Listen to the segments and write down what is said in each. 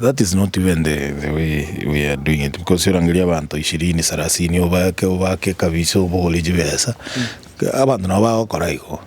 That is not even the the way we are doing it because orangerie abanto ishirini sarasini obake obake kabisa obogore chibesa abanto nabo bagokora igo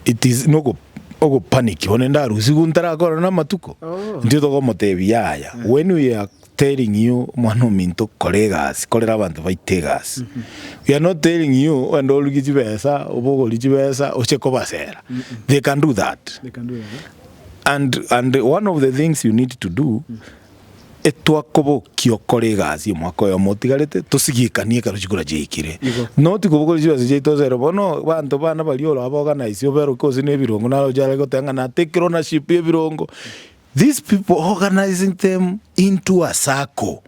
it is nogo ogo panic one ndarusi igu ntarakora na amatuko intwe togomotebi yaya when we are telling you mwana ominto kora egasi korera abanto baite egasi we are not telling you genda oruge chibesa obogori chibesa oche kobasera they can do that And, and one of the things you need to do, etwakobokia okore egasi omwaka oyomo otigarete, tosigikanie ekero chikura chiaikire. Igo. Not kobokora chibesa chiaito ase ere bono, banto bana baria ora baorganise oberoke gose na ebirongo naro ochare goteba ng'a natake ownership y'ebirongo. These people organizing them into a circle.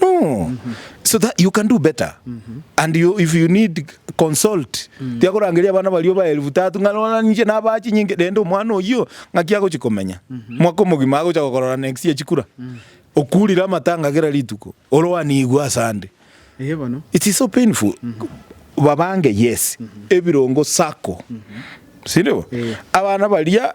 No, so that you can do better. And you, if you need consult, tiakorangeria abana bario ba elfu tatu ng'a rora ninche nabaa chinyinge rende omwana oyio ng'aki agochi komenya. Mwaka omogima agocha gokorora next year chikura. Okurire amatanga kera rituko, oroanigwe ase ande. Eye bono. It is so painful. Babange yes, ebirongo sacco. Sindibo? Eh. Abana baria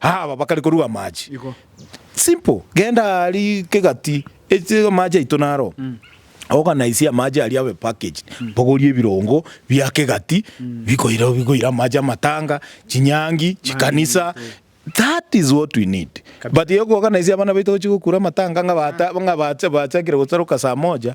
Aba bakare koruga amache. Simple. Genda ari kegati eche amache aito naro. Organize amache aria abe packaged. Bogorie ebirongo bia kegati bikoira bikoira amache amatanga, chinyangi, chikanisa. That is what we need. But yo ku organize abana baito gochi gokura amatanga ng'a bata ng'a bacha bachakire gosaroka saa moja.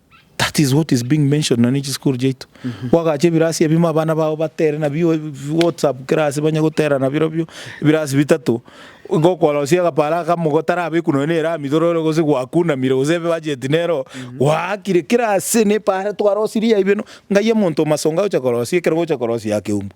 That is what is being mentioned nonya ne chisukuru chiaito. Gwagacha ebirasi ebimo abana bao batere nabio whatsapp kera ase banye gotera nabirobio ebirasi bitato. Igo okorosia agaparo aka mogotarabeku nonya ne erami torore gose gwakunamire gose ebebudget nero gwaakire kera ase nepara twarosirie aye beno ng'ai omonto omasonga agocha korosia ekero ogocha korosia aa keumbu.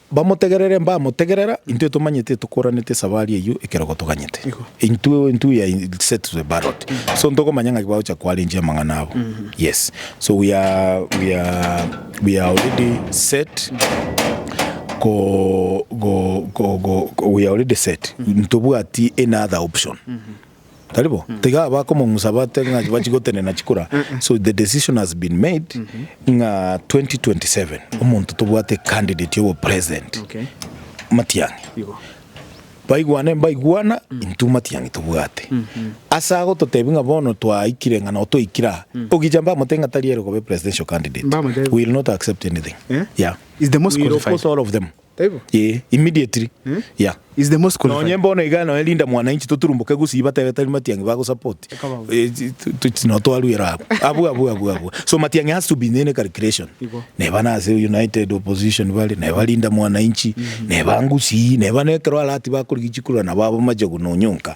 Bamotegerere mbamotegerera, intwe tomanyete tokoranete esabari eyio ekero gotoganyete. Intwe intwe we are set to the ballot. So ntokomanya ng'aki bagocha koarrange amang'ana abo. Yes. So we are we are we are already set ko go go go we are already set. Ntobwati any other option. Tari bo? Tiga abakomong'usa batebe ng'a chibachi gotenena chikura. So the decision has been made ng'a 2027 omonto tobwate candidate obo president Okay. Matiang'i. Igo. Baigwane mbaigwana intwe Matiang'i tobwate. Ase agototebi ng'a bono twaikire ng'a nao twaikire aa. Ogicha mbamotebie ng'a tari ere kobe presidential candidate. Mbamotebie. We will not accept anything. Eh? Yeah. Is the most We will qualified. oppose all of them. Ee, immediately, yeah. Nonye bono iga nonye Linda Mwananchi toturumboke gusii batebe tari Matiang'i bagosupport. Tochi no twaruera abwo. Abwo abwo abwo abwo. So Matiang'i has to be in any calculation. Neba nase United Opposition bare, neba Linda Mwananchi, neba ngusii, neba nekero aratibe akorigia chikurura nabo aba Machogu nonyonka.